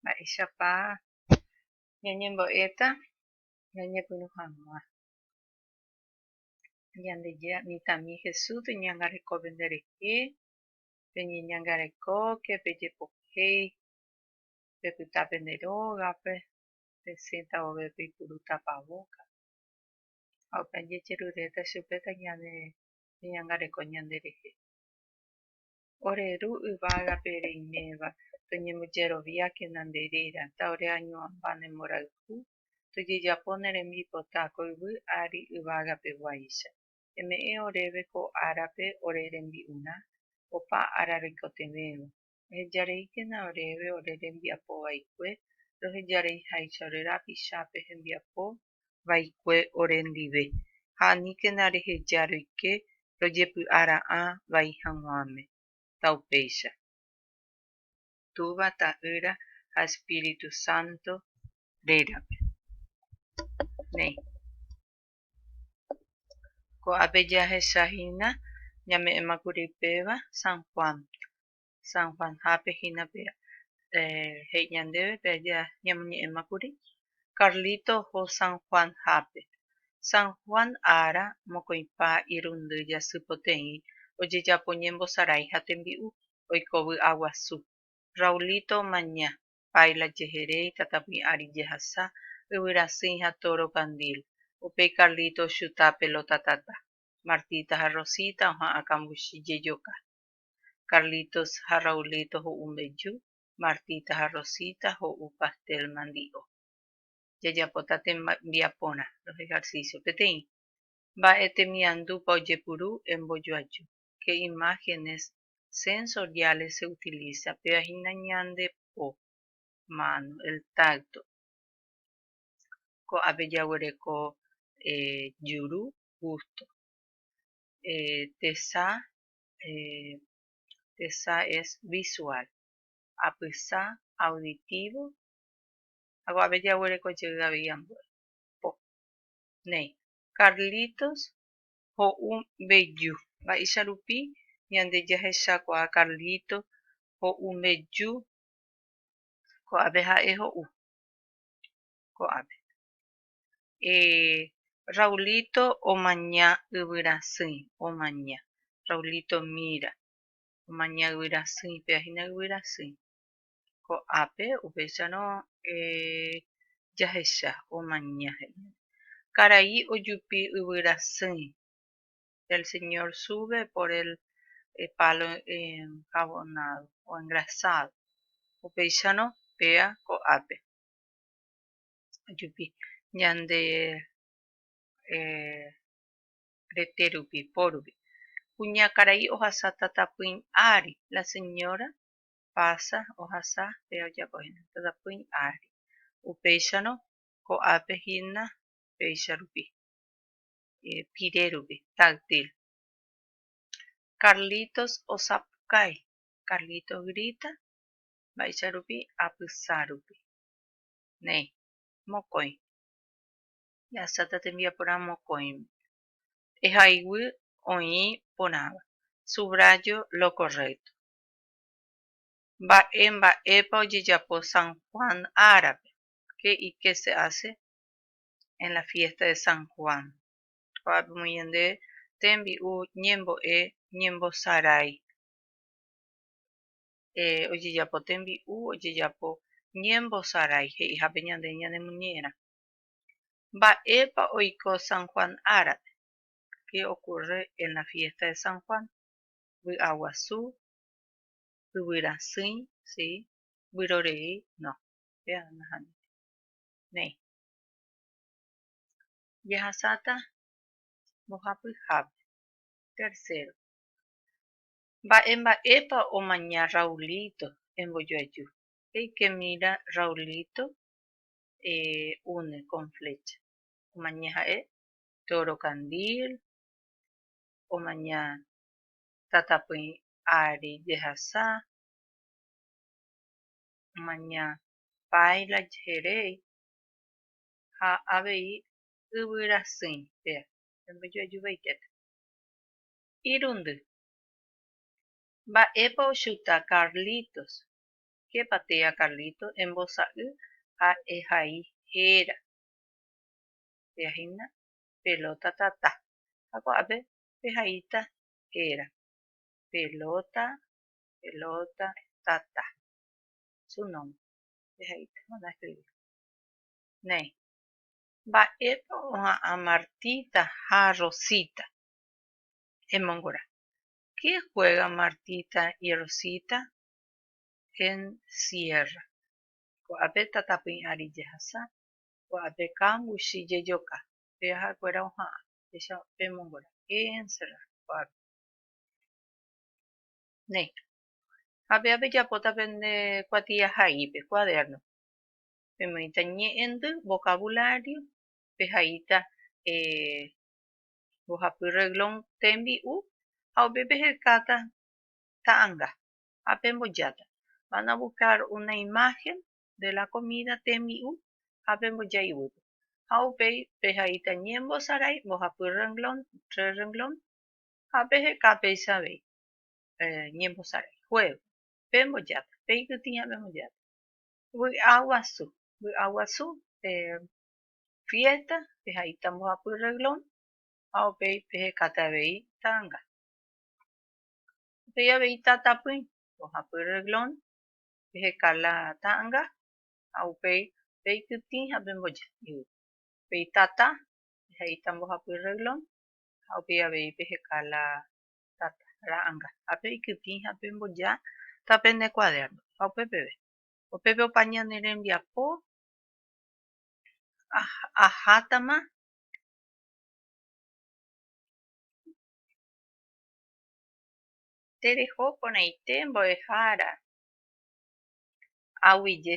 mba'éichapa ñañembo'éta ñañepyrũ hag̃ua. Ñandejára mitãmi Jesús peñangarekópe nderehe, peñeñangarekóke, pejepohéi, pepyta pende rógape, pesẽta vove peipurúta pavóka. Ha opa jejeruréta chupe tañanderehe. Ore Ru yvágape reiméva, toñembojeroviákena nde réra, taoreañuãmba ne mborayhu, tojejapo ne rembipota ko yvy ári yvágapeguáicha. Eme'ẽ oréve ko árape ore rembi'urã, opa ára roikotevẽva. Ohejareíkena oréve ore rembiapo vaikue, rohejareiháicha ore rapichápe hembiapo vaikue ore ndive, ha aníkena reheja roike rojepy'a ra'ã vai hag̃uáme. Taupéicha. Túva, Ta'ýra ha Espíritu Santo rérape. Néi. Ko'ápe jahechahína ñame'ẽma kuri péva San Juan, San Juanhápe hína pe he'i ñandéve pe aja ñamoñe'ẽma kuri Carlito oho San Juanhápe San Juan ára mokõipa irundy jasy poteĩ ojejapo ñembosarái ha tembi'u oiko vy'a guasu Raulito omaña Paila jehere itatapỹi ári jehasa yvyrasỹi ha tóro kandil upéi Carlito ochuta pelota tata Martita ha Rosita oha'ã kambuchi jejoka Carlitos ha Raulito ho'u mbeju, Martita ha Rosita ho'u pastel mandi'o. Jajapóta tembiaporã, los ejercicios, peteĩ. Mba'e temiandúpa ojepuru, embojoaju. Qué imágenes sensoriales se utiliza, péva hína ñande po, mano, el tacto. Ko'ápe jaguereko juru, gusto. Tesa tesa es visual, apysa, auditivo, ha ko'ápe jaguereko jey avei ambue. Po. Néi. Carlitos ho'u mbeju. Mba'éicha rupi ñande jahechakuaa Carlito ho'u mbeju? Ko'ápe ha'e ho'u. Ko'ápe. Raulito omaña yvyrasỹi, omaña. Raulito mira, omaña yvyrasỹi, péva hína yvyrasỹi. Ko'ápe upéicharõ jahecha omaña he'i. Karai ojupi yvyrasỹi. El señor sube por el palo enjabonado o engrasado. Upéicharõ péva ko'ápe. jupi ñande rete rupi, po rupi. Kuña karai ohasa tatapỹi ári, la señora pasa ohasa pe ojapo hína tatapỹi ári. Upéicharõ ko'ápe hína péicha rupi, pire rupi, táctil. Carlitos osapukái, Carlitos grita, mba'éicha rupi? Apysa rupi. néi, mokõi. Jahasa ta tembiaporã mokõime. Ehayguy oĩ porãva. Subrayo lo correcto. Mba'e mba'épa ojejapo San Juan árape? Qué y qué se hace en la fiesta de San Juan? Ko'ápe omoĩ ñande tembi'u ñembo'e ñembosarái. ojejapo tembi'u, ojejapo ñembosarái he'ihápe ñande ñanemuñe'ẽrã. Mba'épa oiko San Juan árape? Qué ocurre en la fiesta de San Juan? Vy'aguasu, yvyrasỹi, si, vyrorei, no. Péva nahániri. Néi. Jahasáta mbohapy hápe. Tercero. Mba'e mba'épa omaña Raulito embojoaju. Eike mira Raulito une con flecha. Omaña ha'e Toro Candil, omaña Tatapy ári jehasa, omaña Paila jeheréi ha avei yvy rasýi péa embojoaju vaitépe. Irundy Mba'épa ochuta Carlitos? Képa tea Carlito embosa'y ha ehai héra. Tea hína pelóta tata ha ko'ápe pehaíta héra. Pelóta, pelóta, tata. Su nómbre. Pehaíta manda eskrivi. Néi. Mba'épa oha'ã Martita ha Rosita? Emongora. Qué juega Martita y Rosita en sierra? Ko'ápe tata pyĩ ári jehasa, ko'ápe kambuchi jejoka, pe ha'ekuéra oha'ã, péicha pemongora, qué encerrar, ko'ápe. Néi. Ha péva pejapóta pende kuatiahaípe, cuaderno, pemoĩta ñe'ẽndy, vocabulario, pehaíta eh, mbohapy reglón Tembi'u ha upépe hekáta Ta'anga ha pembojáta Van a buscar una imagen de la comida tembi'u ha pemboja iguýpe ha upéi pehaíta Ñembosarái mbohapy reglón Tres reglón ha peheka péicha avei Ñembosarái Juego pembojáta Peikytĩ ha pembojáta Vy'a guasu Vy'a guasu fiésta pehaíta mbohapy rreglón ha upéi pehekate avei ta'anga. Upéi avei tatapỹi mbohapy rreglón, peheka la ta'anga ha upéi peikytĩ ha pemboja yvy. Upéi tata pehaíta mbohapy rreglón ha upéi avei peheka la tata, ra'anga, ha peikytĩ ha pemboja ta pene kuadérno. Ha upe peve, upépe opa ñane rembiapo ahátama tereho porãite mbo'ehára aguyje.